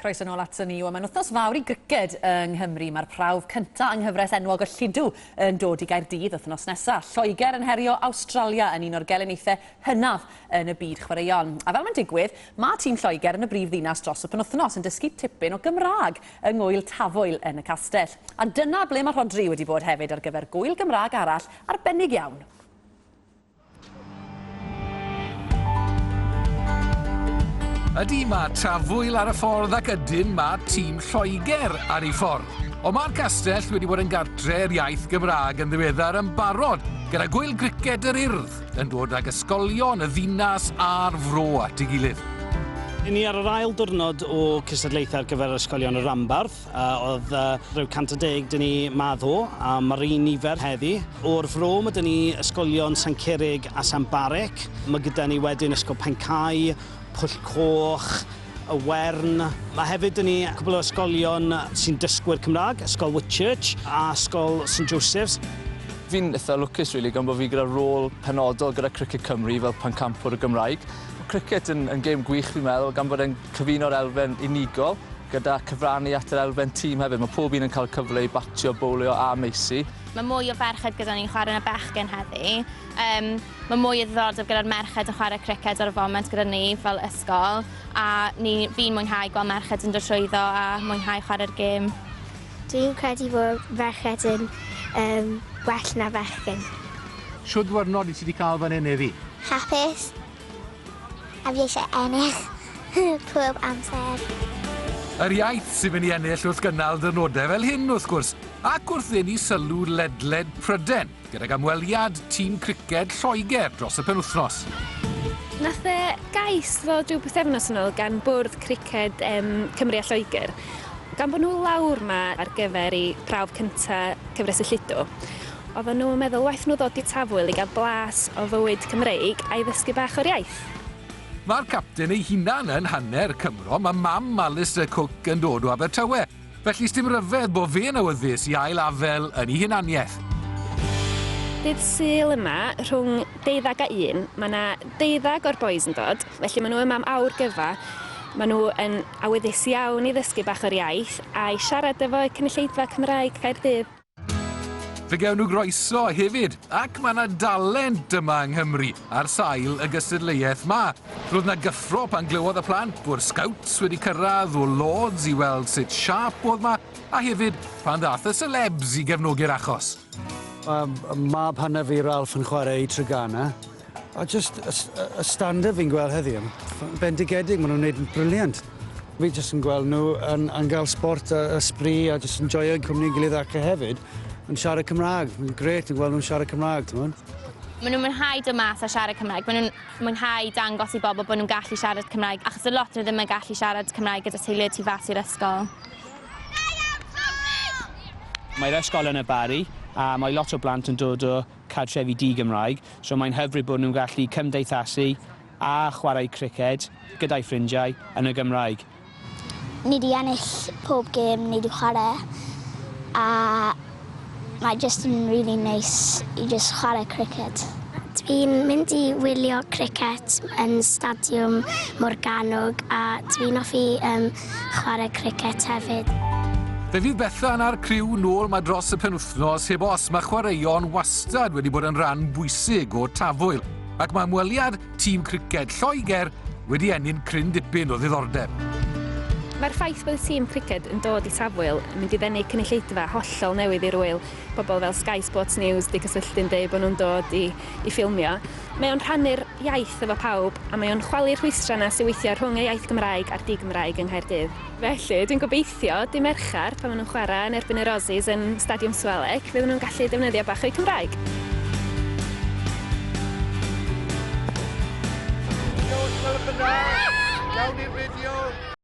Croeso nôl ato ni. Wel, mae'n wythnos fawr i griced yng Nghymru. Mae'r prawf cyntaf yng nghyfres enwog y Lludw yn dod i Gaerdydd wythnos nesaf. Lloegr yn herio Awstralia yn un o'r gelyniaethau hynaf yn y byd chwaraeon. A fel mae'n digwydd, mae tîm Lloegr yn y brif ddinas dros y penwythnos yn dysgu tipyn o Gymraeg yng ngwyl Tafwyl yn y castell. A dyna ble mae Rhodri wedi bod hefyd ar gyfer gwyl Gymraeg arall arbennig iawn. Ydy, mae trafwyl ar y ffordd ac ydyn mae tîm Lloegr ar ei ffordd. Ond mae'r castell wedi bod yn gartre'r iaith Gymraeg yn ddiweddar yn barod gyda gwyl griced yr urdd yn dod ag ysgolion y ddinas a'r fro at ei gilydd. Yn ni ar yr ail diwrnod o cystadlaethau ar gyfer ysgolion y Rambardd. Uh, oedd uh, rhyw 110 dyn ni ma ddo, a mae'r un nifer heddi. O'r fro mae dyn ni ysgolion San Cerig a San Barec. Mae gyda ni wedyn Ysgol Pencau, Pwll Coch, y Wern. Mae hefyd yn ni cwbl o ysgolion sy'n dysgwyr Cymraeg, Ysgol Whitchurch a Ysgol St Joseph's. Fi'n eitha lwcus, really, gan bod fi gyda rôl penodol gyda Cricket Cymru fel pencampwr y Gymraeg. Cricket yn, yn gêm gwych, fi'n meddwl, gan bod e'n Cyfuno'r elfen unigol gyda cyfrannu at yr elfen tîm hefyd. Mae pob un yn cael cyfle i batio, bowlio a meysu. Mae mwy o ferched gyda ni'n chwarae na bechgyn heddi. Yym, mae mwy o ddiddordeb gyda'r merched yn chwarae criced ar y foment gyda ni fel ysgol, a ni, fi'n mwynhau gweld merched yn dod trwyddo a mwynhau chwarae'r gêm. Dwi'n credu fod ferched yn um, well na fechgyn. Shwd ddiwrnod wyt ti wedi cael fan hyn heddi? Hapus. A fi eisiau ennill pob amser. Yr iaith sy'n mynd i ennill wrth gynnal dyrnodau fel hyn, wrth gwrs, ac wrth ddenu sylw ledled Pryden, gydag amweliad tîm criced Lloegr dros y penwythnos. Nath e gais ddod rhyw bythefnos yn ôl gan bwrdd criced um, Cymru a Lloegr, gan bod nhw lawr yma ar gyfer i prawf cyntaf cyfres y Llido. Oedden nhw'n meddwl waeth nhw ddod i Tafwyl i gael blas o fywyd Cymreig a'i ddysgu bach o'r iaith. Mae'r capten ei hunan yn hanner Cymro, mae mam Alistair Cooke yn dod o Abertawe, felly sdim ryfedd bo fe'n awyddus i ail afel yn ei hunaniaeth. Dydd Sul yma, rhwng deuddag a un, mae na deuddag o'r bois yn dod, felly mae nhw yma am awr gyfa, mae nhw yn awyddus iawn i ddysgu bach o'r iaith, a'i siarad efo y cynulleidfa Cymraeg Caerdydd. Fe gewn nhw groeso hefyd, ac mae yna dalent yma yng Nghymru ar sail y gystadleuaeth ma. Roedd yna gyffro pan glywodd y plant bod Scouts wedi cyrraedd o Lords i weld sut siap oedd ma, a hefyd pan ddath y celebs i gefnogi'r achos. Mae mab hanner fi, Ralph, yn chwarae i Treganna. A just y, y, y standard fi'n gweld heddi yn bendigedig, maen nhw'n gwneud yn briliant. Fi jyst yn gweld nhw yn, yn gael sport a ysbri a jyst yn joio'n cwmni'n gilydd ac e hefyd yn siarad Cymraeg. Mae'n gret yn gweld nhw'n siarad Cymraeg, ti'n mwyn? Maen nhw'n mwynhau dod mas a siarad Cymraeg. Maen nhw'n mwynhau dangos i bobl bod nhw'n gallu siarad Cymraeg, achos y lot nhw ddim yn gallu siarad Cymraeg gyda teulu tu fas i'r ysgol. Mae'r ysgol yn y Barri a mae lot o blant yn dod o cartrefi di-Gymraeg, so mae'n hyfryd bod nhw'n gallu cymdeithasu a chwarae criced gyda'u ffrindiau yn y Gymraeg. Ni 'di ennill pob gêm ni 'di chwarae a mae jyst yn rili neis i jyst chwarae criced. Dwi'n mynd i wylio criced yn Stadiwm Morgannwg a dwi'n hoffi chwarae cricet hefyd. Fe fydd Bethan a'r criw nôl ma dros y penwythnos heb os mae chwaraeon wastad wedi bod yn rhan bwysig o Tafwyl ac mae ymweliad tîm criced Lloegr wedi enni'n cryn dipyn o ddiddordeb. Mae'r ffaith bod y tîm criced yn dod i Tafwyl yn mynd i ddenu cynulleidfa hollol newydd i'r ŵyl. Pobl fel Sky Sports News 'di cysylltu'n deud bod nhw'n dod i i ffilmio, mae o'n rhannu'r iaith efo pawb a mae o'n chwalu'r rhwystrau 'na sy' weithiau rhwng y iaith Gymraeg a'r di-Gymraeg yng Nghaerdydd. Felly, dwi'n gobeithio, dydd Mercher, pan maen nhw'n chwarae yn erbyn yr Aussies yn Stadiwm Swalec, fydden nhw'n gallu defnyddio bach o'u Cymraeg. Diolch, Gwelwch yn dda! Gawn ni'r fideo?